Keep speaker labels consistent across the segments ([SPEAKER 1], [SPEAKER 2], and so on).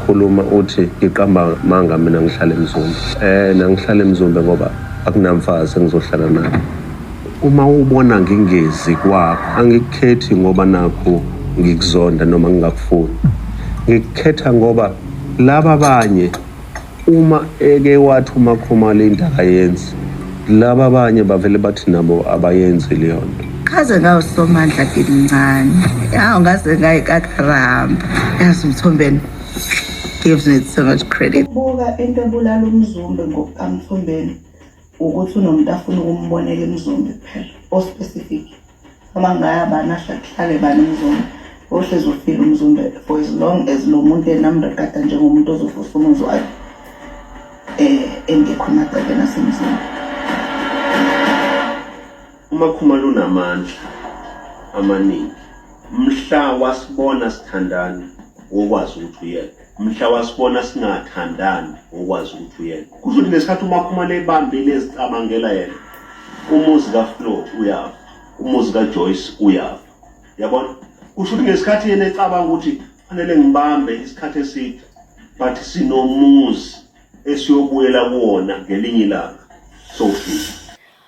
[SPEAKER 1] khuluma uthi ngiqamba manga mina ngihlala emzumbe eh nangihlala emzumbe ngoba akunamfazi engizohlala naye uma ubona ngingezi kwakho angikukhethi ngoba nakho ngikuzonda noma ngingakufuni ngikukhetha ngoba laba abanye Uma eke wathi uMakhumalo into akayenzi, laba abanye bavele bathi nabo abayenzi leyo nto. Kaze ngawusomandla
[SPEAKER 2] kimncane. Yawu ngaze ngayikakaramba. Yazi umthombeni gives me so much credit. Buka into ebulala
[SPEAKER 3] umzumbe ngokukamthombeni. ukuthi unomuntu afuna ukumbonela imizombe kuphela ospecific noma ngaya bani ahle kuhlale bani umzombe ohlezi ufile umzombe for as long as lo muntu enamregada njengomuntu ozovusa umuzi wakhe um engekho emagcekeni asemzini
[SPEAKER 1] umakhuma lunamandla amaningi mhla wasibona sithandana wokwazi ukuthi uyena mhla wasibona singathandani ngokwazi ukuthi uyena kusho ukuthi ngesikhathi umakhumane ebambile ezicabangela yena umuzi kaflo uyafa umuzi kajoyce uyafa yabona kusho ukuthi ngesikhathi yena ecabanga ukuthi fanele ngibambe isikhathi eside but sinomuzi esiyobuyela kuwona ngelinye ilanga sofika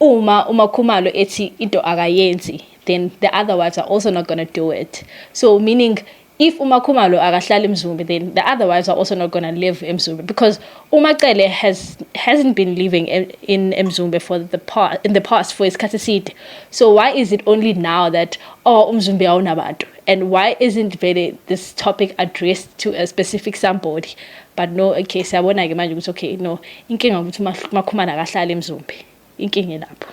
[SPEAKER 4] Uma uMakhumalo ethi into akayenzi then the other ones are also not going to do it. So meaning if uMakhumalo akahlali eMzumbe then the other ones are also not going to live eMzumbe because uMacele has hasn't been living in eMzumbe for the past in the past for isikhathi eside. So why is it only now that oh uMzumbe awunabantu? And why isn't vele this topic addressed to a specific somebody? But no, okay, siyabona-ke manje ukuthi okay, no, inkinga ukuthi uMakhumana akahlali emzumbe. Inkinga elapho.